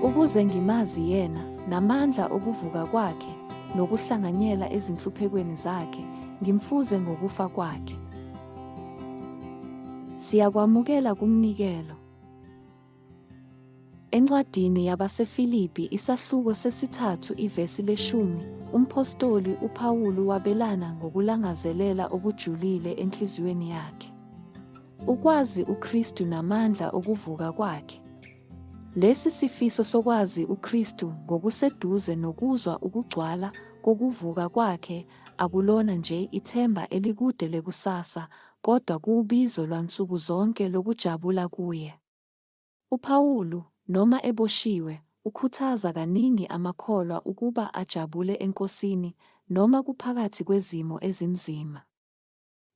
Ukuze ngimazi yena, namandla okuvuka kwakhe, nokuhlanganyela ezinhluphekweni zakhe, ngimfuze ngokufa kwakhe. Siyakwamukela kumnikelo. Encwadini yabaseFilipi isahluko sesithathu ivesi leshumi, umphostoli uPawulu wabelana ngokulangazelela okujulile enhliziyweni yakhe. Ukwazi uKristu namandla okuvuka kwakhe. Lesi sifiso sokwazi uKristu ngokuseduze nokuzwa ukugcwala kokuvuka kwakhe akulona nje ithemba elikude lekusasa kodwa kuwubizo lwansuku zonke lokujabula kuye. UPawulu, noma eboshiwe, ukhuthaza kaningi amakholwa ukuba ajabule eNkosini noma kuphakathi kwezimo ezimzima.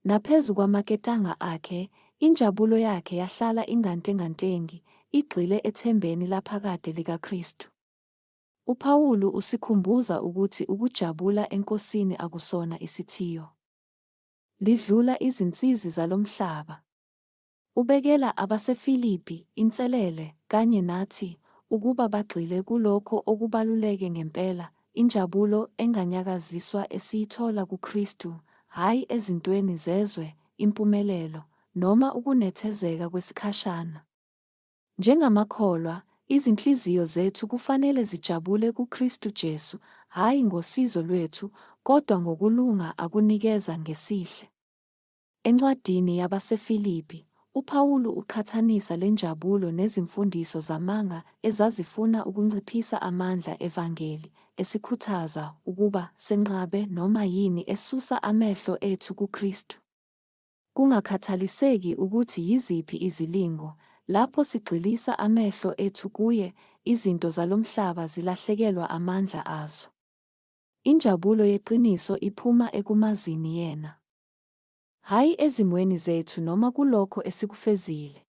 Naphezu kwamaketanga akhe, injabulo yakhe yahlala ingantengantengi, igxile ethembeni laphakade likaKristu. UPawulu usikhumbuza ukuthi ukujabula eNkosini akusona isithiyo. Lidlula izinsizi zalomhlaba. Ubekela abaseFilipi inselele, kanye nathi, ukuba bagxile kulokho okubaluleke ngempela, injabulo enganyakaziswa esiyithola kuKristu, hhayi ezintweni zezwe, impumelelo, noma ukunethezeka kwesikhashana. Njengamakholwa, izinhliziyo zethu kufanele zijabule kuKristu Jesu, hhayi ngosizo lwethu, kodwa ngokulunga akunikeza ngesihle. Encwadini yabaseFilipi, uPawulu uqhathanisa le njabulo nezimfundiso zamanga ezazifuna ukunciphisa amandla evangeli, esikhuthaza ukuba senqabe noma yini esusa amehlo ethu kuKristu. Kungakhathaliseki ukuthi yiziphi izilingo, lapho sigxilisa amehlo ethu kuye, izinto zalomhlaba zilahlekelwa amandla azo. Injabulo yeqiniso iphuma ekumazini yena. Hhayi ezimweni zethu noma kulokho esikufezile.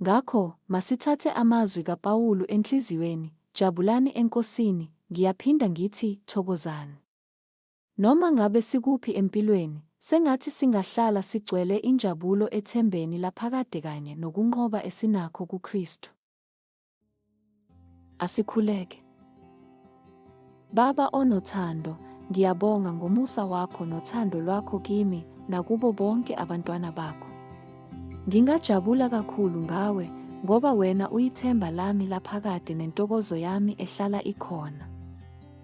Ngakho, masithathe amazwi kaPawulu enhliziyweni, Jabulani eNkosini, ngiyaphinda ngithi, Thokozani. Noma ngabe sikuphi empilweni, sengathi singahlala sigcwele injabulo ethembeni laphakade kanye nokunqoba esinakho kuKristu. Asikhuleke. Baba onothando, ngiyabonga ngomusa wakho nothando lwakho kimi nakubo bonke abantwana bakho. Ngingajabula kakhulu ngawe ngoba wena uyithemba lami laphakade nentokozo yami ehlala ikhona.